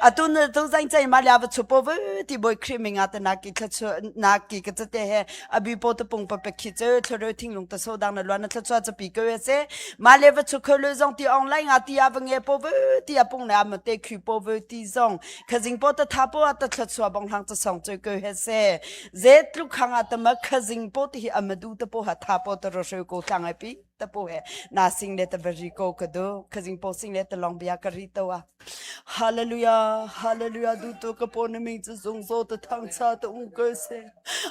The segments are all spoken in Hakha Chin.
atu na tu zain chai ma lia va chu po ve ti boi khri mi nga ta na ki thla chu na ki ka cha te he abi po to pung pa pe khi chu thlo ro thing lung ta so dang na lwa na thla chu cha pi ke se ma le va chu kho le zong ti online nga ti a va nge po ve ti a pung na ma te khri po ve ti zong kha jing po ta tha po a ta thla chu bong hang ta song chu ke he se ze tlu khanga ta ma kha jing po ti hi amadu ta po ha tha po ta ro shu ko thlang ai pi tapu he na sing le ta bari ko ka do khazing po sing le ta long bia ka ri to a hallelujah hallelujah du to ka po na ming chu zung zo ta thang cha ta u ko se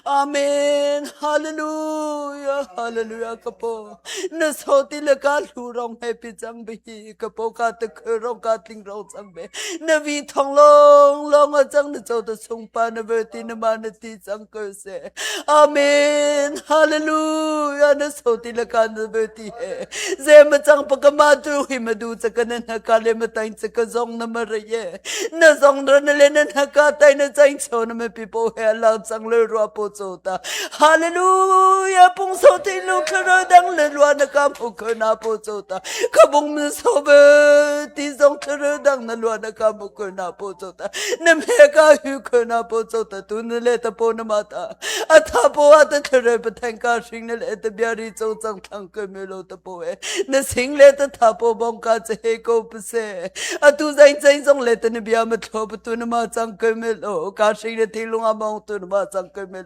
amen hallelujah hallelujah ka po na so ti le ka lu rong he pi chang bi ka po ka ta khơ rong ka tling rong chang be na vi thong long long a chang na cho ta sung pa na ve ti na ma na ti chang ko se amen hallelujah na so ti la kan be ti he ze ma chang pa kama tu hi ma du cha kan na ka le ma tain cha ka zong na ma re ye na zong ra na le na na ka tai na chai cho na ma pi po he la chang le ro po cho ta hallelujah pung so ti lu khra dang le lwa na ka mu ko na po cho ta ka bung mi so be ti zong khra dang na lwa na ka mu ko na po cho na me ka hu kho na po cho ta tu na le ta po na ma ta atha po a ta thare pa thang ka shing na le ta bia ri cho chang thang ko me lo ta po e na sing le ta tha po bong ka che ko pa se atu zai zai zong le ta na bia ma thlo pa tu na ma chang ko me lo ka shing re thi lunga bong tu na ma chang ko me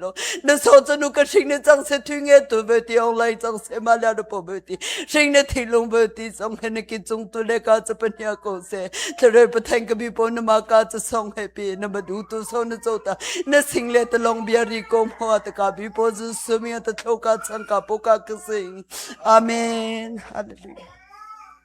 na so chanu ka hring ne chang se thu nge tu be ti ong lai chang se ma la na po be ti hring ne thi lung be ti song he ne ki chung tu le ka cha panya ko se thre pa thang ka bi po na ma ka cha song he pi na ma du tu so na cho ta na sing le ta long bia ri ko mo ta ka bi po zu su mi ta tho ka chan ka po ka ka sing amen hallelujah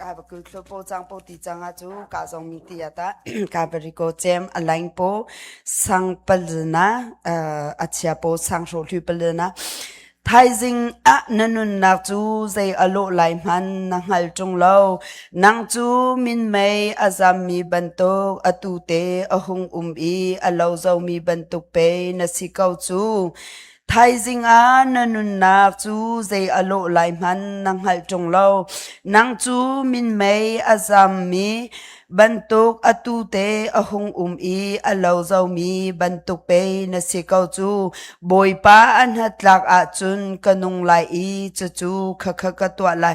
Kaa va kul thlu paw cang paw ti cang ah cu kaa zong mi ti ah tah kaa Barigo cem a laing paw sang palna a chia paw sang hro hlu palna thaizing ah na nunnak cu zei a lawh lai hman na hngal ṭung lo nang cu minmei a zammi bantuk atu te a hung um i a lo zomi bantuk pei na si ko cu Thaizing ah na nunnak cu zei a lawh lai hmanh na hngalh ṭung lo. Nang cu minmei a zammi bantuk atu te a hung um i a lo zomi bantuk pei na si ko cu. Bawipa a hnatlak ahcun ka nung lai i cucu khakha ka tuah lai.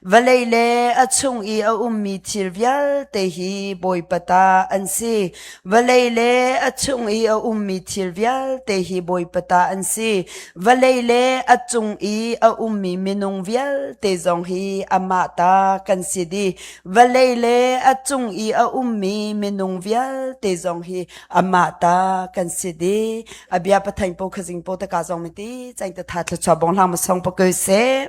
Vawlei le a chung i a ummi thil vialte hi Bawipa ta an si. Vawlei le a chung i a ummi thil vialte hi Bawipa ta an si. Vawlei le a cung i a ummi minung vialte zong hi amah ta kan si dih. Vawlei le a cung i a ummi minung vialte zong hi amah ta kan si dih. A bia pathain po khazing po taka zong miti, chang ta tha thluchua bong hlang ma song pa kö se.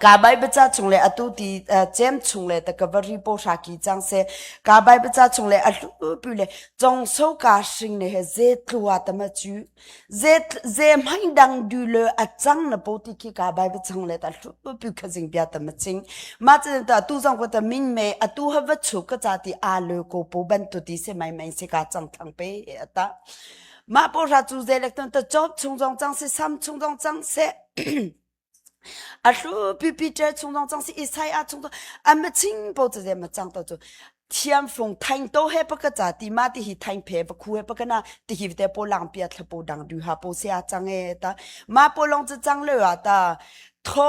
Ka Baibal chung le atu ti cem chung le ta ka va ri pohra ki cang seh. Ka Baibal chung le a hlulpi le jong so ka hring ne he ze tlua tama chu. Ze ze mai dang du le a chang na po ti khi ka Baibal chung le ta hlulpi kha jing bia tama ching. Ma chen ta tu zong ko ta min me atu ha va chuk ka cha ti a le ko po ban tu ti se mai mai se ka chang thang pe e ata. Mah pohra cu zeilek tun ta job chung zong cang si sam chung zong cang si a thlu pipi cer chung zong cang si isai a chung a ma ching po chu ze ma chang to chu thiam fung thaing to he paka cha ti ma ti hi thaing phe pa khu he paka na ti hi te po lang pia thla po dang du ha po se a chang e ta ma po long chu chang le wa ta tho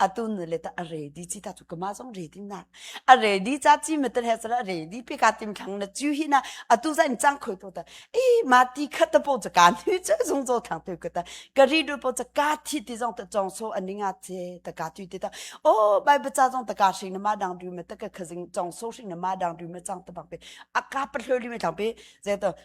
atu nule ta a ready chi ta chu kama zong ready na a ready cha chi me tel he sala ready pe ka tim khang na chu hi na atu za in chang khoi to ta e ma ti khat ta po cha ka ni chu zong zo thang te ka ta ka ri du po cha ka thi ti zong ta chong so aninga che ta ka tu ti ta o bai bacha zong ta ka sing na ma dang du me ta ka khazing chong so sing na ma dang du me chang ta bang pe a ka pa thloi li me thang pe je to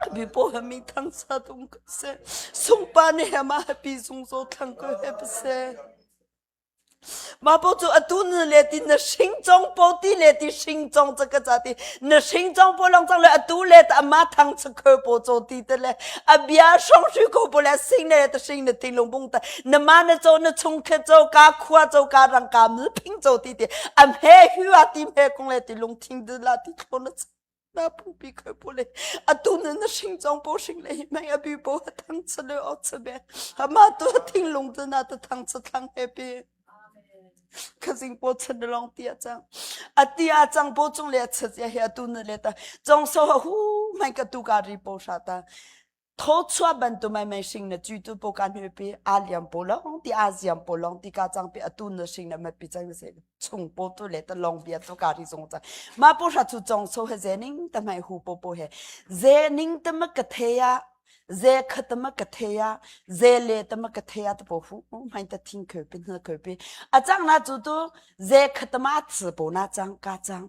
Happy pawha mi thangsa tum ko seh. Sungpa nih hem ah happy sungso thlang ko he pa seh. Mah po cu atu na le ti na hring cong po ti le ti hring cong ca ka ca ti na hring cong po long cang le atu le ta ama thang cha khơ po cho ti te le a bia shong shu ko po le sing le ta hring na thing lung bung ta na ma na cho na chung khe cho ka khua cho ka rang ka mul phing cho ti ti am he hu a ti me kong le ti lung thing de la ti po na na pumpi khoi pu le atu na na hring chong po hring le hi mai abi po ha thang cha le o cha be hama tu thing lung tu na tu thang cha thang happy khazing po chan long tia chang ati a chang po chung le chat ya he atu na le ta chong so hu mai ka tu ka ri po sha ta thawchuah bantuk mai sing na cuitu po kan mi pi a liam po long ti a ziam po long ti ka chang pi atu na sing na ma pi chang se chung po tu le ta long bia to ka ri song cha ma po ra chu chong so he ze ning ta mai hu po po he ze ning ta ma ka the ya ze khat ma ka the ya ze le ta ma ka the ya ta po hu mai ta thing khö pin na khö pi a chang na chu tu ze khat ma ts po na chang ka chang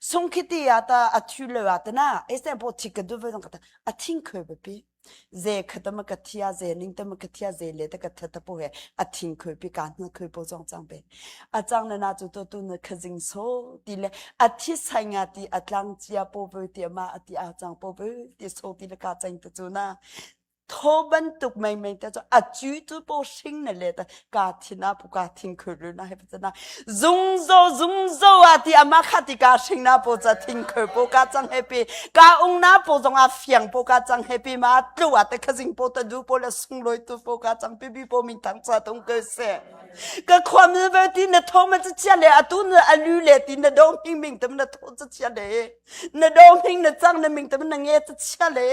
sung khiti ya ta athu le wa tana esen po thik ka du ve ka ta athing khe be pi ze khatama ka thia ze ning tama ka thia ze le ta ka tha ta po he athing khe pi ka na khe po jong chang be achang na na chu to tu na khazing so ti le athi sainga ti atlang chia po be ti ma ati a chang po be ti so ti le ka chang tu chu na thaw bantuk meinmei te cu a cui cu po hring na let ka thin a pu ka thing khurru na hep chana zungzo zungzo a ti ama kha ti ka hring na po cha thing khur po ka chang happy ka ung na po zong a fiang po ka chang happy ma tlu a te khazing po ta du po le sungloi tu po ka chang pibi po min thang cha tung ke se ka khwam ve ti na tho ma chi chia le atu na alu le ti na dong hing ming tam na tho chi chia le na dong hing na chang na ming tam na nge chi chia le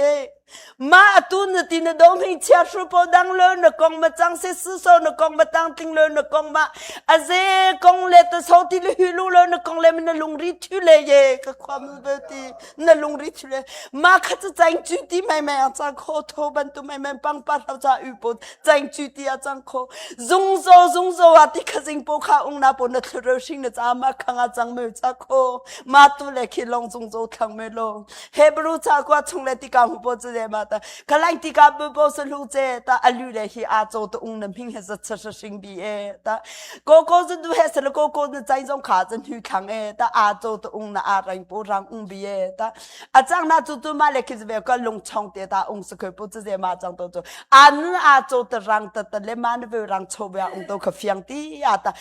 ma atu na ti na dong hei chia hru po dang lo na kong ma chang se su so na kong ma tang tling lo na kong ma a ze kong le to so ti le hu lu lo na kong le na lung ri thu le ye ka khwa mu be ti na lung ri thu le ma kha chu chang chu ti mai mai a cha kho tho ban tu mai mai pang pa hlau cha u po chang chu ti a chang kho zung zo zung zo wa ti kha sing po kha ung na po na thlu ro sing na cha ma khang a chang me cha kho ma tu le khi long zung zo thang me lo Hebrew cakua chung le tika hu po chu de ma ta kalain tika bu po sa lu che ta alu le hi a cho to ung na ming he za sa sa sing bi e ta ko ko zu du he sa la ko ko nu chai zong kha zan hu thang e ta a cho to ung na a rang po rang ung bi e ta a chang na chu tu ma le khiz ve ko lung chong te ta ung sa ko po chu de ma chang to chu anu a cho to rang ta ta le ma na ve rang cho bya ung to kha fiang ti ya ta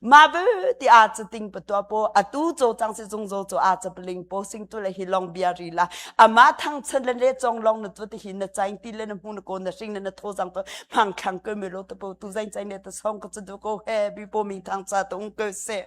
ma bu ti a cha ting pa tua po atu cho chang se zung zo cho a cha pling po sing tu le hi long bia ri la ama thang chan le le chong long na tu ti hin na chain ti le na mu na ko na sing na na tho jang to mang khang ko me lo to po tu zain chain ne ta song ko chu du ko he bi po mi thang cha tung ko se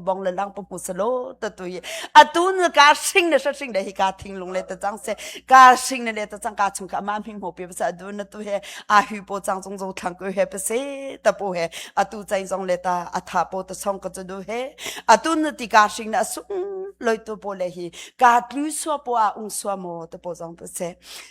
bong le lang pu se lo to tu atu nu ka sing le sa sing le hi ka thing lung le ta chang se ka sing le le ta chang ka chung ka ma mi mo pe sa du na tu he a hu po chang chung zo thang ku he pe se ta pu he atu chai zong le ta atha po ta song ka du he atu nu ti ka sing na sung loi tu po le hi ka tlu so po a ung so mo ta po zong pe se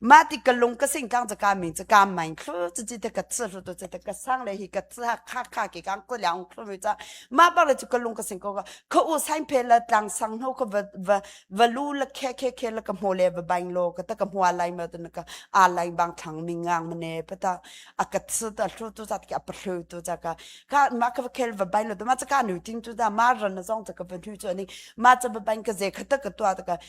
mah ti ka lung ka sing kang cha ka min cha ka mein thlu chi chi te ka ch hlu to chi te ka sang le hi ka ch kha kha ke kang ko liang thlu mi cha ma ba le chu ka lung ka sing ko ka ka u sain phe la tlang sang no ko va va lu la khe khe khe la ka mo le va baing lo ka ta ka mo lai ma tun ka a lai bang thang ning ngang mane pata a ka ch ta thlu tu cha ki a pa thlu tu cha ka ka ma ka khel va baing lo to ma cha ka nu ting tu da ma ran na zong cha ka va nu chu ani ma cha va baing ka ze kha ta ka tua ta ka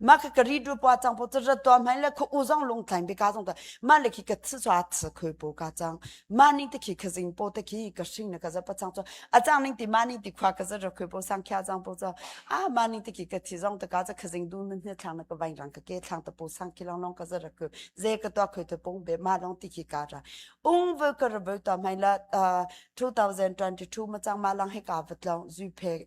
ma ka ka ri du pa chang po cha to mai le khu u zong lung tlain be ka zong ta ma le ki ka tsu sa tsu khu po ka chang ma ning te ki ka zing po te ki ka shing na ka za pa chang cho a chang ning ti ma ning ti khwa ka za ro khu po sang kya chang po cha a ma ning te ki ka thi zong ta ka za ka zing du min ne thang na ka vai rang ka ke thang ta po sang ki long long ka za ro khu ze ka to khu to pong be ma long ti ki ka ra ung vel ka ra be ta mai la 2022 ma chang ma lang he ka vat long zui phe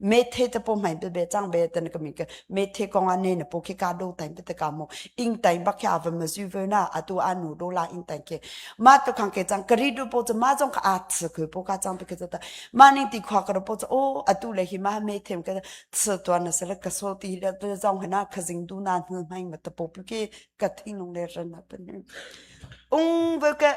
Methe te po mai be be chang be ten ka mi ke methe kong ane na po ke ka do time te ka mo ing time ba ke ava ma zu ve na atu anu do la ing time ke ma to khang ke chang kari do po ma jong ka at se ku po ka chang pe ke ta ma ning ti khwa kar po o atu le hi ma methe ke se to na se ka so ti le to jong hna ka jing du na hu mai ma ta po pu ke ka thing lung le ran na pen ung ve ke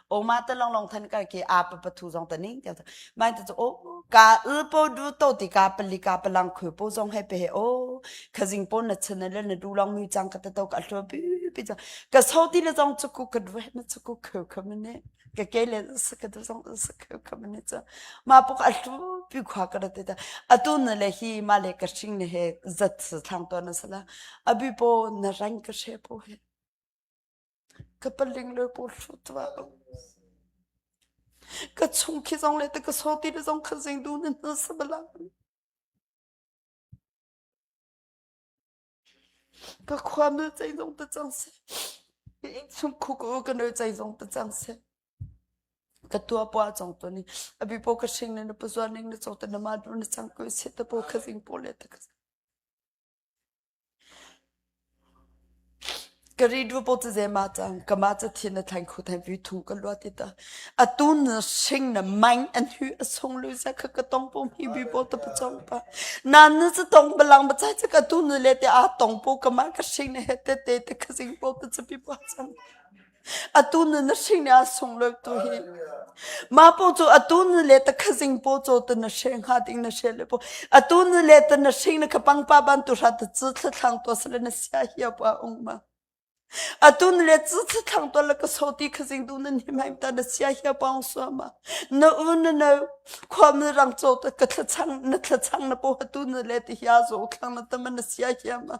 oma te long long than ka ke a pa pathu zong ta ning ke mai ta o ka ul po du to ti ka pali ka palang khu po zong he pe o khazing po na chana le na du long mi chang ka ta to ka thlo pi pi cha ka so ti na zong chu ku ka dwe na chu ku khu khu mene ka ke le sa ka zong sa khu khu mene cha ma po ka thlo pi khwa ka te ta atu na le hi ma le ka shing ne he zat sa thang to na sala abi po na rang ka she po he Ka paling le pu thlu tua. Ka chung khi zong le ta ka so ti le zong kha zing du nan hna sabala. Ka khua mil chai zong ta chang se. Ka ing chung khu ko ka nơi chai zong ta chang se. Ka tua pua chong to ni. Abi po ka shing ne na pu zuan ning na chong ta na ma du na chang ko se ta po kha zing po le ta ka. Ka ri duapaw caze ma cang. Kamah cu thin a thlaing kho thai vi thung ka luat i ta. Atu na hring na maing an hu a sung lu za kha ka tong pum hi bi paw ta pacong pa. Nan na cu tong balang bacai cu ka tu nu le te a tong paw kamah ka hring na he te te te ka zing paw ta capi paw cang. Atu nu na hring ah sunglawi tu hi. Ma po cu atu nu le ta khazing po cho tu na hre nga ding na hre le po. Atu nu le ta na hring na khapang pa ban tu hra ta chu thlang to sle na sia hi pa ung ma. Atu nu le chu thlang to la ka so ti khazing du nan him haim ta na sia hi pa ung su ma. Na u na na khwam na rang cho ta ka thla chang na thla chang na po atu nu le ti hia zo thlang na ta ma na sia hi ma.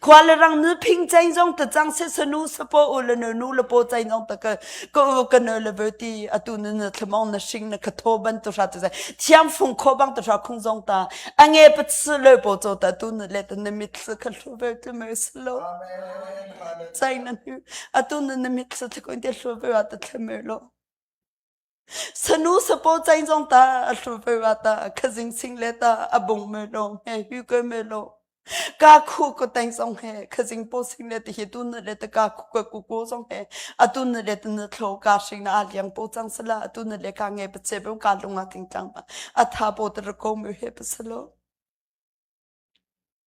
khua le rang nu phing chain zong ta cang se sanu sapo u le nu nu lapo chain ong ta ka ka ka no le ve ti atu nu na thlomong na shing na khatho ban tu sha tu sai thiam phung kho bang tu sha khung zong ta ange pat su le po cho ta tu nu le ta na mit su kha thlu ve tu me slow chain na nu atu nu na mit su thakon te thlu ve wa ta thlme lo Sanu sapaw cai zong ta a thlu ve wa ta khazing sing le ta a bung me lo he hu ke me lo ka khu ko teng song he khazing po sing le te hi tu na le ta ka khu ko ku ko song he atu na le tu na thlo ka sing na liang po chang sala atu na le ka nge pa che pe ka lunga ting tlang ma atha po ter ko me he pasalo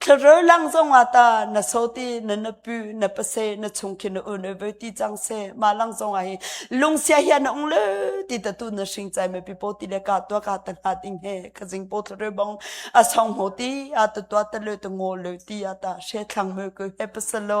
Thlarau lang zongah ta na so ti na na pu na pase na chung khin na un ve ti chang se ma lang zongah hi lungsia hi na ung le ti ta tu na shing chai me pipo ti le ka tua ka ta na ding he ka jing po thlarau bong a song ho ti a ta tua ta le ta ngo le ti a ta she thlang me ko he pasalo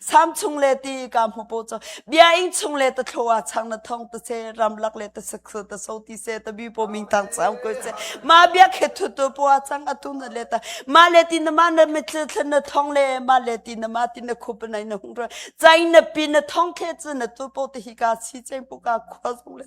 sam chung le ti ka mu po cho bia in chung le ta thloa chang na thong ta se ram lak le ta sak ta so ti se ta bi po ming tang chang ko se ma bia khe thu tu po chang atu na le ta ma le ti na ma na me thlu thlu na thong le ma le ti na ma ti na khup nai na hung ro chai na pi na thong khe chu na tu po te hi ka si cheng pu ka khwa sung le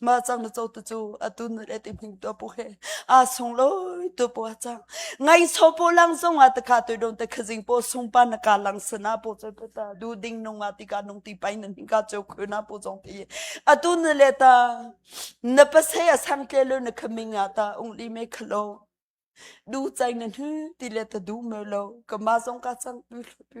ma chang na cho tu chu atu na let im ning tu pu he a sung lo tu pu chang ngai so pu lang sung a ta kha tu don ta khazing pu sung pa na ka lang sana pu chu pu ta du ding nung ma ti ka nung ti pai na ning ka chu khu na pu jong ti atu na le ta na pa se a sang tle lo na khaming a ta ung li me khlo du chai na hu ti le ta du me lo ka ma zong ka chang tu tu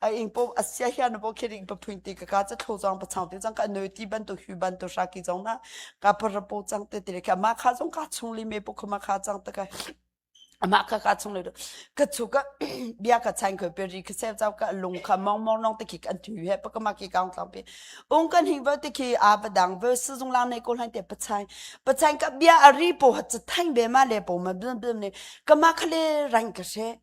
a ing po asia hian bo khiring pa phuin ti ka ka cha tho jong pa chang te jang ka noi ti ban to hu ban to sha ki jong na ka par po chang te te ka ma kha jong ka chung li me po khma kha chang ta ka ama ka ka chung le ka chu ka bia ka chain ko pe ri ka se chau ka lung kha mong mong nong te ki kan thu he pa ka ma ki kaung tlang pe ung kan hing ba te ki a ba dang ve su jung lang nei ko hlain te pa chain pa chain ka bia a ri po ha cha thain be ma le po ma blam blam ne ka ma khale rang ka she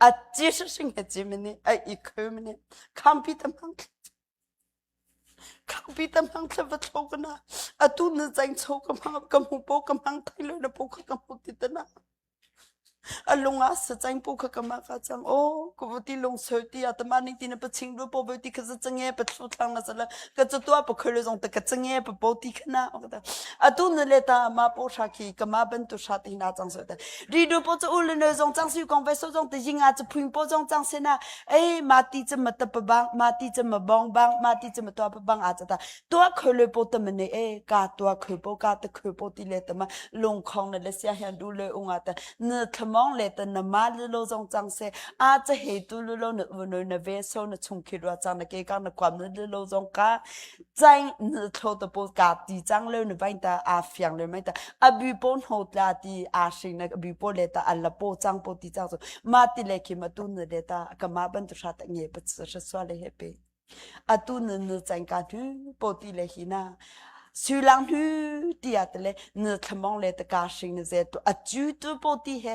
A ci hring he cim ni a i khum ni khampi tam hang khampi tam hang thla va tho kana atu na chang cho ka ma ka mu po ka mang thai lo na po kha ka mu ti tana alunga sa chang po kha kama ka chang o ko bu ti lung so ti atama ni ti na pa ching ru po bo ti kha za change pa thlu thlang na sala ka chu tua pa kholo jong ta ka change pa bo ti khana ota atu na le ta ma po sha khi kama ban tu sha ti na chang so ta Rido po cha u le nal zong chang si kong ve so zong te jinga cha phuing po zong chang se na ei mati cha ma ta pa bang mati cha ma bong bang mati cha ma to pa bang a cha ta to khoi le po ta ma ne e ka to khoi po ka ta khoi po ti le ta ma lung khong ne le sia hian du le unga ta na thamong le ta na ma le lo zong chang se a cha he tu le lo na u no na ve so na chung khi ro chang na ke ka na kwam na le lo zong ka chang na thlo to po ka ti chang le nu bai ta a fiang le mai ta abi po no tla ti a sing na abi po le ta alla po chang po ti chang so ma ti le ki ma tu na le ta ka ma ban tu sha ta nge pa sa sa le he pe atu nu nu chang ka thu po ti le hi na su lang thu ti ya te le na thamong le ta ka sing na ze tu a chu tu po ti he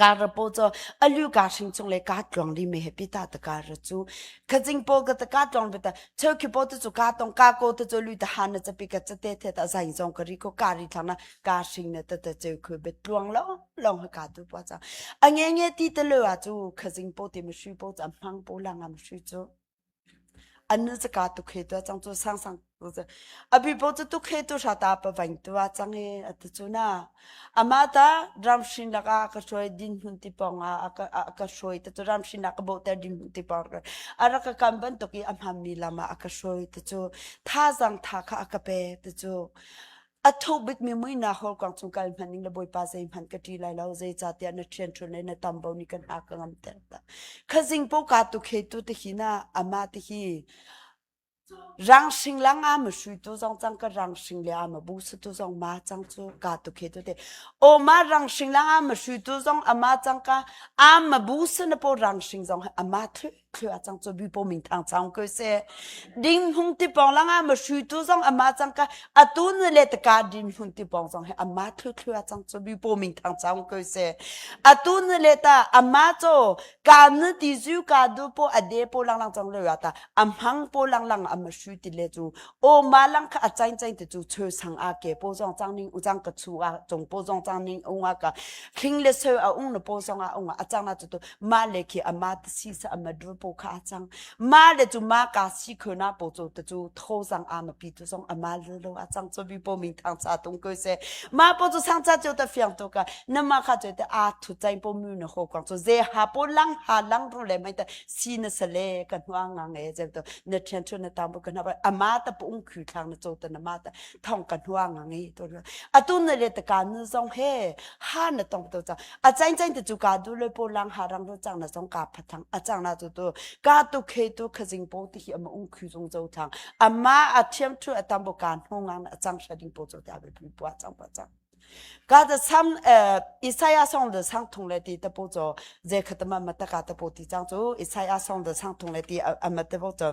Car ra paw caw a lu ka hring chung le ka tlong ri me he pi ta ta car ra chu. Kha jing paw ka ta ka tlong ve ta cheu khi paw tu chu ka tong ka ko tu chu lu ta han na chapi ka cha te the ta zai zong ka ri ko ka ri thang na ka hring na ta ta cheu khu be tluang lo long ha ka tu pa cha. A nge nge ti ta le wa chu kha jing paw ti ma shu paw cha mang paw la nga ma shu chu. An nu cu ka tuk he tu a cang cu sang sang tu cu a bipo cu tuk he tu hra ta pa vain tu a cang he a tu cu na ama ta ramhrin laka ka hruai din hun ti pong a a ka hruai ta cu ramhrin laka bo ter din hun ti pong a ra ka kam bantuk i a hmam mi lam ah a ka hruai ta cu thazang tha kha a ka pe ta cu A thuk bikmi muinak horkuang cung kal hman ning le bawipa zei hman ka ṭi lai lo zeicahtiah na ṭhianṭhuan le na tambo nih kan ha ka ngam ter ta khazing po ka tu khetu te hi na ama te hi rang shing lang a ma shui tu zong chang ka rang shing le a ma bu su tu zong ma chang chu ka tu khetu te o ma rang shing lang a ma shui tu zong ama chang ka a ma bu su na po rang shing zong ama thu thil a cang chu bi po ming thang chang ko se ding hung ti pong langa ma shu tu zong ama chang ka atu na le ta ka din hun ti pong zong he ama thu thu a chang chu bi po ming thang chang ko se atu na le ta ama cho ka na ti zu ka du po a de po lang lang chang le ya ta amhang po lang lang ama shu ti le chu o ma lang kha a chain chain ti chu chö sang a ke po zong chang ning u chang ka chu a chung po zong chang ning u nga ka khing le sö a ung na po zong a ung a chang na chu tu ma le khi ama te si sa ama dur po kha chang ma le chu ma ka si kho na po chu te chu tho sang ama pi tu song ama le lo a chang cho bi po mi thang sa tung ko se ma po chu sang cha chu ta fiang to ka na ma kha chu te a thu chai po mu na ho kwang chu ze ha po lang ha lang ru le mai ta si na sa le ka nwa nga nge je to na thian chu na tam po ka na ba ama ta po ung khu thang na cho ta na ma ta thong ka nuang ngi to atu na le ta kan zong he ha na tong to cha a chain chain te chu ka du le po lang ha rang ro chang na song ka phathang a chang na tu tu ka tu khe tu khazing po ti hi ama ung khu zong zo thang ama a thiam thu atam bo kan ngongang a chang shading po cho ta be pi po chang pa chang ka ta sam isaiah song de sang thong le ti ta po cho je khatama mataka ta po ti chang chu isaiah song de sang thong le ti ama te po cho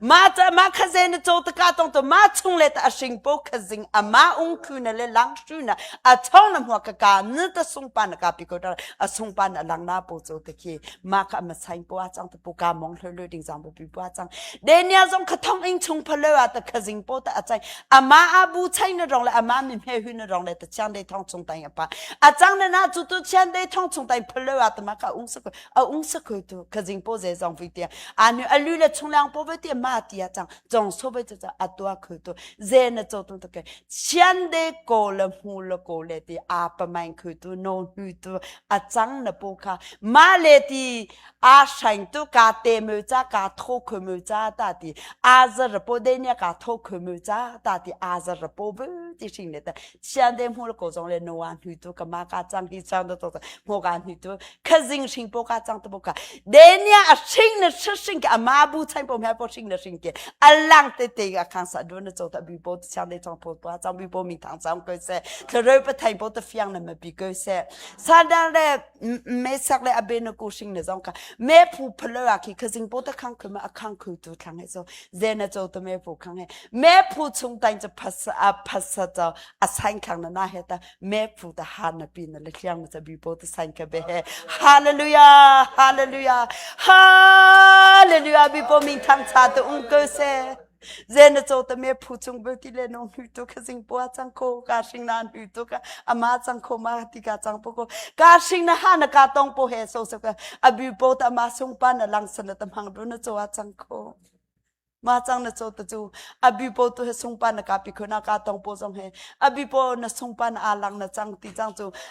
ma ca ma kha ze na co taka tong to ma chung le ta ashing po kha zing ama ung khu na le lang shu na a chong na hmua ka ka nil ta sung pa na ka pi ko ta a sung pa na lang na po cho te khi ma kha ma sain po a chang ta pu ka mong hloi hloi ding jang bu pi pu a chang de nia zong kha thong ing chung pha le a ta kha zing po ta a chai ama a bu chai na rong le ama mi mhe hu na rong le ta chang de thong chung tai pa a chang na na chu tu chian de thong chung tai pha le a ta ma ka ung sa ko a ung sa khu tu ka jing po ze zong vi te anu alu le chung lang po ve te ma ti a chang jong so ve cha a tua khu tu ze na cho tu ke sian de ko le mu le ko le ti a pa mai khu tu no hu tu a chang na po kha ma le ti a shine tu ka te mu cha ka tho khu mu cha ta ti a za ra po de nia ka tho khu mu cha ta ti a za ra po ve ti shin le ta sian de mu ko zong le noa nu tu ka ma ka chang hi chang to to mo ka nu tu kha zing shing po ka chang to bo ka denia a shing na shing ka ma bu chai po mya po shing na shing ke alang te te ga khang sa do na cho ta bi po sian de chang po to chang bi po mi thang chang ko se thre pa thai po ta fiang na ma bi ko se san dang le me sak le abe na ku shing na zong ka me phu phalo a ki khazing po ta khang khuma akhang khu tu thang he so ze na cho to me phu khang he me phu chung tain cha phas a phas cha a sign khang na na he ta me phu ta ha na pi na le khiang ma cha bi po ta sign ka be he hallelujah hallelujah hallelujah bi po ming thang cha to ung ko se ze na cho te me phu chung bel ti le no nu tu kha sing pua chang kho ka sing na nu tu ka ama chang kho ma ti ka chang po ko ka sing na ha na ka tong po he so so ka abi po ta ma sung pa na lang san ta mang bru na cho a chang kho ma chang na cho ta chu abi po tu he sung pa na ka pi khona ka tong po jong he abi po na sung pa na alang na chang ti chang chu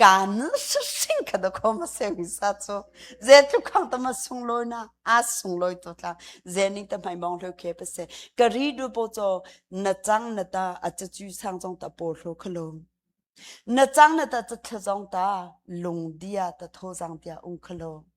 kan sing kha da khom se mi sa chu ze thu khang ta ma sung lo na a sung loi to tla ze ning ta mai bong lo ke pe se ka ri du po cho na chang na ta a chu chu sang jong ta po lo kha lo na chang na ta chu tha jong ta lung dia ta tho jang dia ung kha lo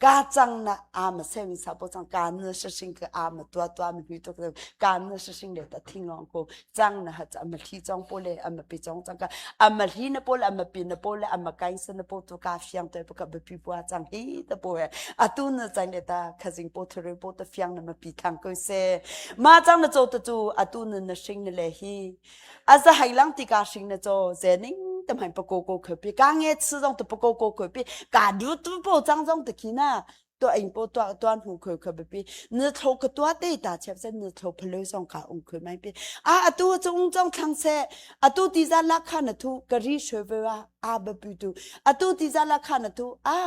ka chang na am se mi sa po chang ka na sa sing ke am tua tua mi hui to ka na sa sing le ta thing long ko chang na ha cha ma thi chong po le am pi chong chang ka am thi na po le am pi na po le am kai sa na po to ka fiang to po ka be pi po chang hi ta po e atu na chang le ta khazing po thore po ta fiang na ma pi thang ko se ma chang na cho to chu atu na na sing le hi a za hai lang ti ka hring na cho ze ning te mai pa ko ko kho pi ka nge chu jong tu pa ko ko kho pi ka du tu po chang jong te khi na to ein po to to mu kho kho pi nu thlo ko to te ta chep sen nu thlo phlo song ka ung kho mai pi a atu chung chong thang se atu ti za la kha na thu kari shwe ve wa a ba pu tu atu ti za la kha na thu a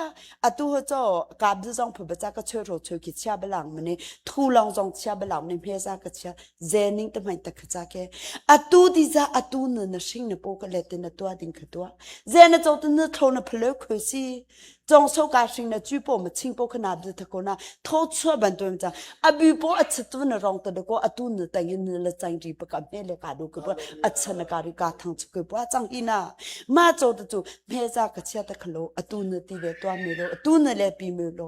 atu ho cho ka bu jong phu ba cha ka chwe ro chwe ki chia balang mani thu long jong chia balang ni phe za ka chia zening te hmai ta khacha ke atu di za atu na na hring na po ka let na tua ding kha tua ze na cho tu na tho na phlo kho si chong so ka hring na chui po ma ching po khana bla tha ko na tho chua ban to cha abu po a chit tu na rong ta de ko atu na tang yin na la chang ri pa ka me le ka do ko pa acha na ka ri ka thang chu ko pa chang ina ma cho tu chu me za ka chia ta khlo atu na ti ve tua me lo atu na le pi me lo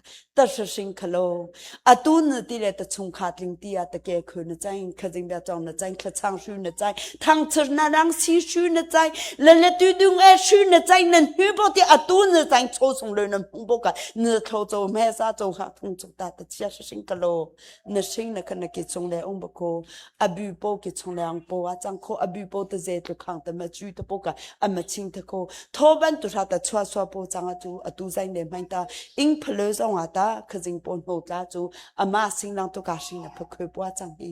ta hring khalo atu na ti le ta chung kha tling ti a ta ke khu na chai khazing da chong na chai khachang shu na chai thang chir na rang si shu na chai le le tu dung e shu na chai na nu bo ti atu na chai cho sung le na pung bo ka na thlo cho me sa cho ha thung chu ta ta chia hring khalo na hring na na ke chung le ung bako abu po ke chung le ang po a chang kho abu po ta ze tu khang ta ma chu ta po ka ama ching ta ko tho ban tu ra ta chwa swa po chang a tu atu zai ne mai ta ing phalo zong ata khazing po no tla chu ama sing nang to ka hring na phakho po chang hi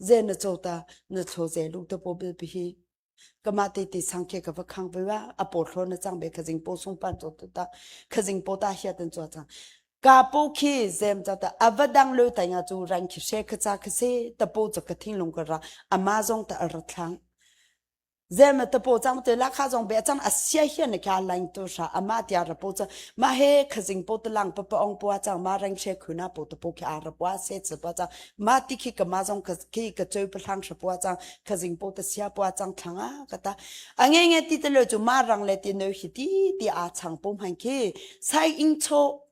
ze na cho ta na cho ze lu te po bil pi hi kama te te sang ke ka va khang ve wa a po thlo na chang be ka jing po sung pan cho tu ta ka jing po ta hia ten cho chang ka po khi zem ta ta avadang lo ta ya chu ran khi she ka cha ka se ta po cha ka thing lung ka ra amazon ta ar thang zen na tapo chang te la kha zong be chang asia hian ne kha line to sha ama tia rapo cha ma he khazing po to lang pa pa ong po chang ma rang she khuna po to po kha arapwa se che po chang ma ti khi kama zong khi ka choi pa thang sha po chang khazing po to sia po chang thanga kata ange nge ti te lo chu ma rang le ti no hi ti ti a chang po man khi sai ing cho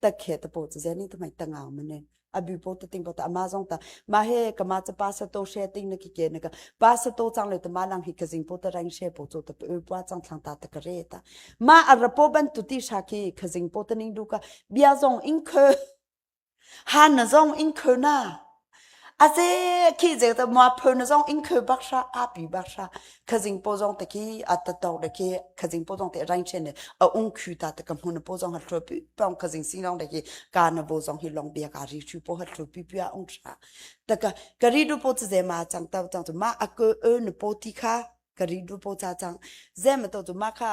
takhe ta po chu zeni tu mai tanga mane abi po to ting po ta amazon ta ma he kama cha pa sa to she ting na ki ke na ka pa sa to chang le ta ma lang hi ka jing po ta rang she po chu ta pa chang thang ta ta kare ta ma arapo ban tu ti sha ki ka jing po ta ning du ka bia zong in khe han na zong in khe na Aze khi je ta mua phur na zong in khur bak sha api bak sha khazing po zong te ki atatok de ki khazing po zong te rain chen ne a ung khu ta te ka mun po zong ha thru pi pong khazing sing long de ki ka na bo zong hi long bia ka ri chu po ha thru pi pi a ung sha ta ka ka ri du po chu je ma chang ta chang tu ma a ko e na po ti kha ka ri du po cha chang je ma to tu ma kha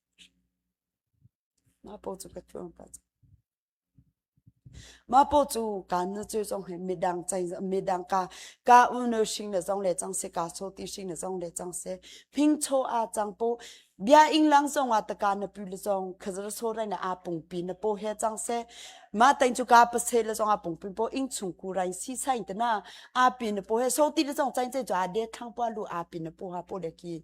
Mah paw cu kaan na ceu zong hi midang cai midang ka ka unu hring le zong le cang se ka so ti hring le zong le cang se phing cho a cang po bia ing lang zong a taka na pu le zong khazar so rai na a pung pi na po he cang se ma tain chu ka pase le zong a pung pi po ing chung ku rai si sain te na a pi na po he so ti le zong chain che chu a de thang pa lu a pi na po ha po le ki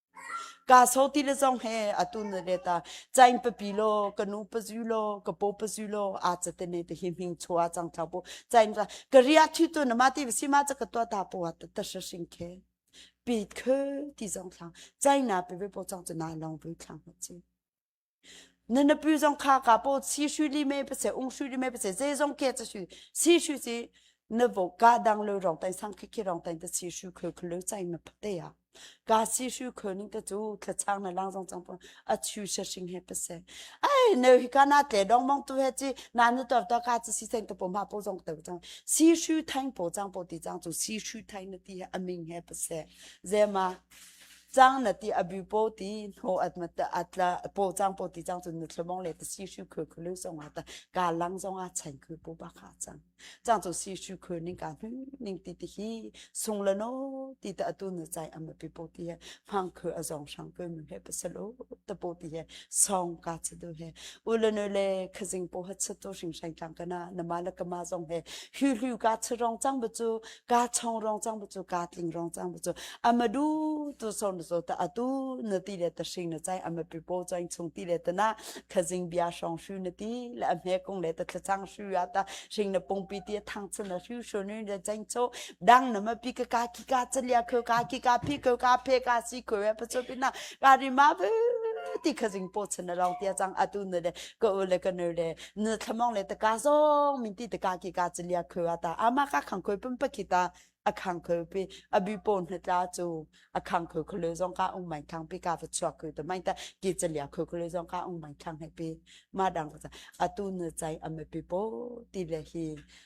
Ka so ti le zong he atu na let a cain papi lo ka nu pazu lo ka po pazu lo a cha te ne te hi hming chua chang thau pu cain ra ka ria thi tu na ma ti si ma cha ka to ta po ta ta sha sing ke pi khe ti zong thang chai na pe be po chang chu na long bu thang chi na napi zong kha ka po si shu li me pa se ung shu li me pa se je zong ke cha shu si shu si na vo ka dang lo rong tai sang khi khi rong tai ta si shu khul khul chai ma pa te ya ka si shu khul ning ta chu thla chang na lang zong chang po a chu sha sing he pa se ai ne hi ka na tle dong mong tu he chi na nu tor to ka chi si seng ta po ma po zong ta chang si shu thai po chang po ti chang chu si shu thai na ti he aming he pa se je ma cang na ti abu po ti tho at ma ta atla po chang po ti chang chun nu thlomong le ta si shu khu khu lu song wa ta ga lang song a chain khu po ba kha chang chang chu si shu khu ning ka hu ning ti ti hi sung la no ti ta atu na chai am pi po ti he hang khu azong shang khu mu he pasal o ta po ti he song ka chu du he ulano le khazing po hat sa to shing shang tang kana na ma la kama song he hu hu ka charong chang bu chu ka chong rong chang bu chu ka tling rong chang bu chu amadu tu son so ta atu na ti le ta shing na chai ama pi po chang chung ti le ta na khazing bia shong shu na ti le amhe kong le ta thlachang shu ya ta shing na pung pi ti thang chu na shu shu nu le chang cho dang na ma pi ka ka ki ka chalia kho ka ki ka phi kho ka phe ka si kho ya pa cho pi na ka ri ma bu ti khazing po chana rong tia chang atu na le ko le ka ne le na thamong le taka zong min ti taka ki ka chalia khua ta ama ka khang khoi pum pa kita akhang khoi pi abi pon hnatla chu akhang khoi kholo zong ka ung mai khang pi ka va chuak khoi to mai ta ki chalia khoi kholo zong ka ung mai khang he pi ma dang ka atu na chai ame pi po ti le hi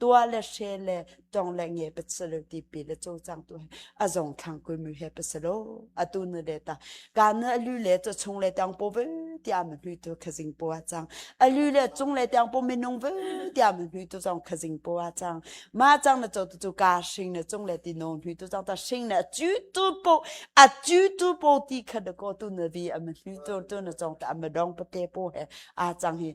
tua le she le tong le nge pa salo ti pi le cho chang tu a zong thang ku mu he pa salo atu nu le ta ka nu alu le to chung le tang po ve ti am lu tu khazing po a chang alu le chung le tang po minung ve ti am lu tu zong khazing po a chang ma chang na cho tu chu ka shing ne chung le ti no lu tu chang ta shing ne ju tu po a ju tu po ti kha de ko tu ne vi am lu tu tu na chong ta am dong pa te po he a chang hi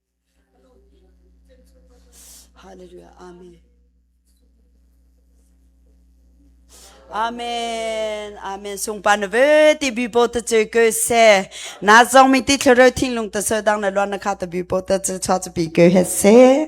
Hallelujah. Amen. Amen. Amen. Sungpa na ve ti bi po ta che ke se. Na zong mi ti thlero thing lung ta se dang na lon na kha ta bi po ta che cha pi ke he se.